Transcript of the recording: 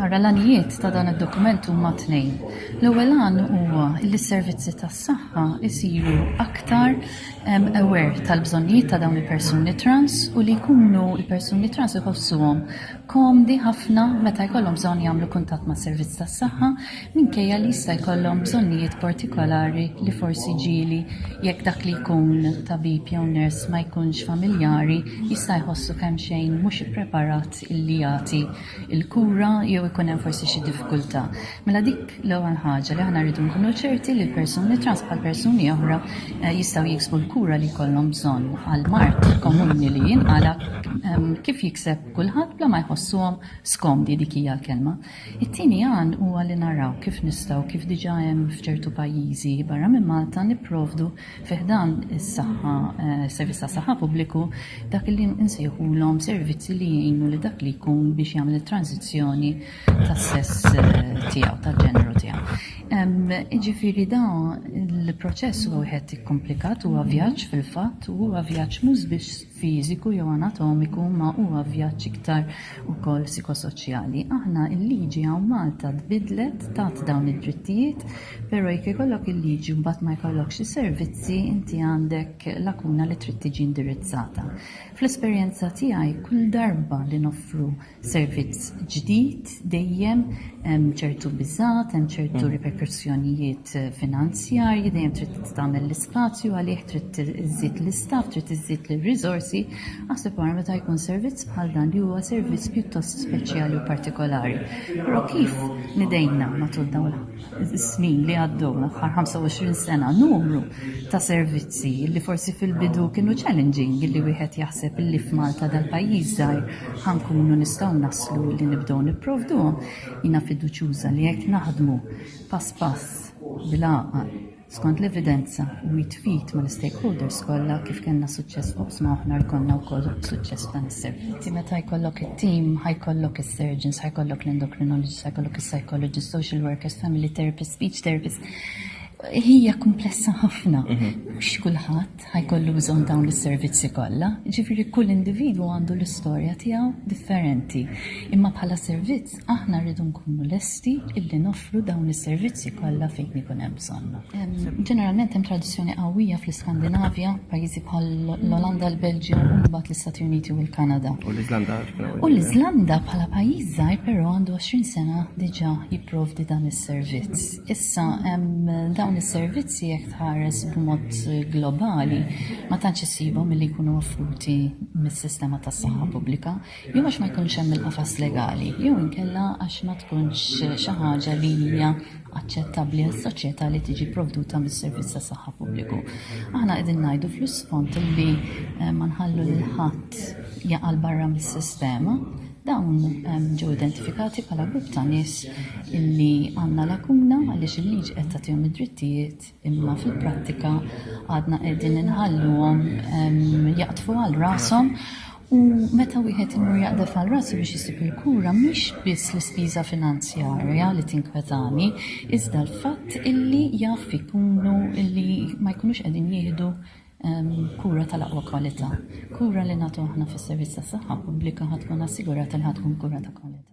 Ara l-għanijiet ta' dan id-dokument huma tnejn. L-ewwel għan huwa li s-servizzi tas-saħħa jsiru aktar aware tal-bżonnijiet ta' dawn il-persuni trans u li jkunu il-persuni trans iħossuhom komdi ħafna meta jkollhom bżonn jagħmlu kuntatt mas-servizz tas-saħħa minkejja li jista' jkollhom bżonnijiet partikolari li forsi ġieli jekk dak li jkun tabib jew ners ma jkunx familjari jista' jħossu kemm xejn mhux ippreparat illi jagħti l-kura jew ikun hemm forsi xi diffikultà. Mela dik l-ewwel ħaġa li aħna rridu nkunu ċerti li l-persuni trans bħal persuni oħra eh, jistgħu jiksbu l-kura li jkollhom bżonn għal mart komuni li jinqala ehm, kif jikseb kulħadd bla ma jħossuhom skomdi dik hija l-kelma. It-tieni għan huwa li naraw kif nistgħu, kif diġà hemm f'ċertu pajjiżi barra minn Malta, nipprovdu fi ħdan is-saħħa, is-servizz tas-saħħa pubbliku, dak li nsejħulhom servizzi li jgħinu lil dak li jkun biex jagħmel it-tranżizzjoni tas-sess tiegħu, tal-ġeneru tiegħu. Jiġifieri dan il-proċess huwa wieħed ikkumplikat, huwa vjaġġ fil-fatt, u huwa vjaġġ mhux biss fiżiku jew anatomiku ma huwa vjaġġ iktar ukoll psikosoċjali. Aħna l-liġi hawn Malta tbiddlet tat dawn id-drittijiet, però jekk ikollok il-liġi mbagħad ma jkollokx is-servizzi inti għandek lakuna li trid tiġi indirizzata. Fl-esperjenza tiegħi kull darba li noffru servizz ġdid dejjem hemm ċertu biżgħat, hemm ċertu riperkussjonijiet finanzjarji, dejjem trid tagħmel l-ispazju għalih, trid iżżid l-istaff, trid iżżid l-riżorsi, aħseb wara meta jkun servizz bħal dan li huwa servizz pjuttost speċjali u partikolari. Però kif nidejna matul dawn fis-snin li għaddew, l-aħħar 25 sena, numru ta' servizzi li forsi fil-bidu kienu challenging li wieħed jaħseb li f'Malta dal-pajjiż żgħir ħankunu nistgħu naslu li nibdew nipprovduhom. Jiena fiduċjuża li jekk naħdmu pass pass bil-għaqal Skont l-evidenza, u jitqiet mal-istakeholders kollha, kif kellna suċċess f'oqsma oħra jkollna wkoll suċċess f'dan is-servizz. Inti meta jkollok it-tim, ħa jkollok is-surgeons, ħa jkollok l-endocrinologists, ħa jkollok is-psychologists, social workers, family therapists, speech therapists. Hija kumplessa ħafna. Mhm. Mhux kulħadd ħa jkollu bżonn dawn is-servizzi kollha, jiġifieri kull individwu għandu l-istorja tiegħu differenti. Imma bħala servizz aħna rridu nkunu lesti illi noffru dawn is-servizzi kollha fejn ikun hemm bżonn. Ġeneralment hemm tradizzjoni qawwija fl-Iskandinavja, pajjiżi bħal l-Olanda, l-Belġju, u mbagħad l-Istati Uniti u l-Kanada. U l-Iżlanda. U l-Iżlanda bħala pajjiż żgħir però għandu 20 sena diġà jipprovdi dan is-servizz. Issa, dawn is-servizzi jekk tħares b'mod globali ma tantx issibhom milli jkunu offruti mis-sistema tas-saħħa pubblika, jew għax ma jkunx hemm il-qafas legali, jew inkella għax ma tkunx xi ħaġa li hija aċċettabbli għas-soċjetà li tiġi pprovduta mis-servizz tas-saħħa pubbliku. Aħna qegħdin ngħidu fl-isfond li ma nħallu lil ħadd jaqa' 'l barra mis-sistema, Dawn ġew identifikati bħala grupp ta' nies li għandna lakuna għaliex il-liġi qed tagħtihom id-drittijiet imma fil-prattika għadna qegħdin inħalluhom jaqdfu għal rashom U meta wieħed imur jaqdef għal rasu biex jisib il-kura mhix biss l-ispiża finanzjarja li tinkwetani, iżda l-fatt illi jaf ikunu illi ma jkunux qegħdin jieħdu Kura tal-aqwa kwalità. Kura li nagħtu aħna fis-servizz tas-saħħa pubblika ħa tkun assigurata li ħa tkun kura ta' kwalità.